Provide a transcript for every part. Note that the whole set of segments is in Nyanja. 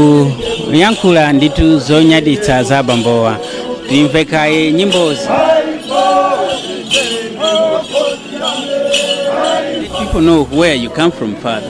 akuyankhula ndithu zonyaditsa za bambowa timve kaye nyimbozi people know where you come from father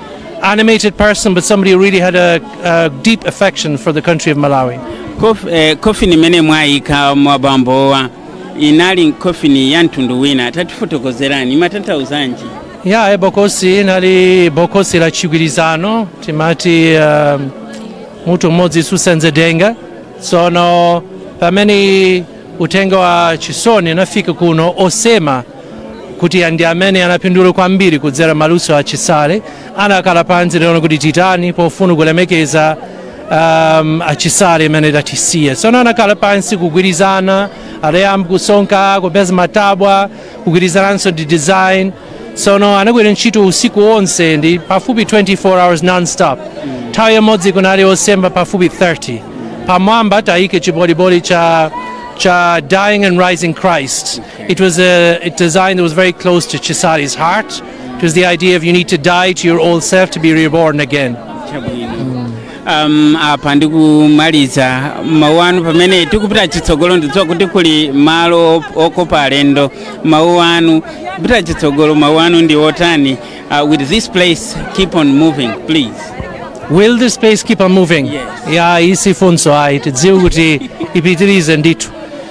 animated person, but somebody who really had a, a deep affection for the country of Malawi. Kof, eh, kofini imene mwayikamo bambowa inali kofini ya mtundu wina tatifotokozerani ikutanthauzanji ya yeah, bokosi linali bokosi la chigwirizano timati uh, mutu mmodzi susenza denga tsono pamene uthenga wa chisoni unafika kuno osema kuti anthu amene anapindula kwambiri kudzera maluso a chisale anakhala pansi tsono kuti titani pofuna kulemekeza um, achisale amene adatisiya tsono anakhala pansi kugwirizana adayamba kusonka kupeza matabwa kugwirizananso ndi design tsono anagwira ntchito usiku wonse ndi pafupi 24 hours nonstop nthawi imodzi kunali osema pafupi 30 pamwamba tayika chiboliboli cha cha dying and rising christ It was a, a design that was very close to Chisale's heart. It was the idea of you need to die to your old self to be reborn again. um, apa ndikumaliza mawu anu pamene tikupita chitsogolo ndidziwa kuti kuli malo okopa alendo mawu anu kupita chitsogolo mawu anu ndi otani uh, will this place keep on moving please Will this place keep on moving? Yes. Yeah, si funso ayi tidziwe kuti ipitirize ndithu.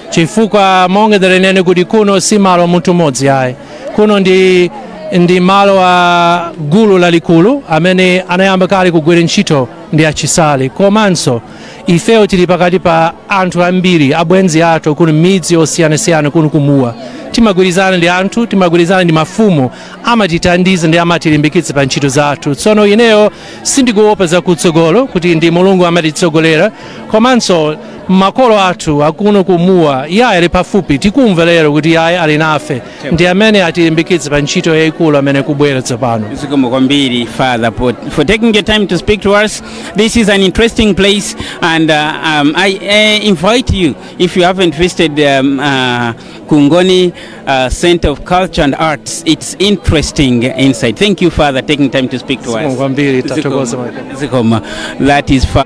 chifukwa monga ndanenera kuti kuno si malo a munthu mmodzi ayi kuno ndi ndi malo a gulu lalikulu amene anayamba kale kugwira ntchito ndi achisale komanso ifeyo tili pakati pa anthu ambiri abwenzi athu kuno midzi yosiyanasiyana kuno ku Mua timagwirizana ndi anthu timagwirizana ndi mafumu amatithandiza ndi amatilimbikitsa pa ntchito zathu tsono ineyo sindikuopa zakutsogolo kuti ndi mulungu amatitsogolera komanso makolo athu akuno ku Mua iye ali pafupi tikumva lero kuti iye ali nafe ndi amene atilimbikitse pa ntchito yayikulu imene ikubwera tsopano Zikomo kwambiri father for, for taking your time to speak to us this is an interesting place and uh, um, i uh, invite you if you haven't visited um, uh, kungoni uh, center of culture and arts it's interesting inside thank you father taking time to speak to us Zikomo kwambiri, tathokoza Zikomo. Zikomo. that is fa-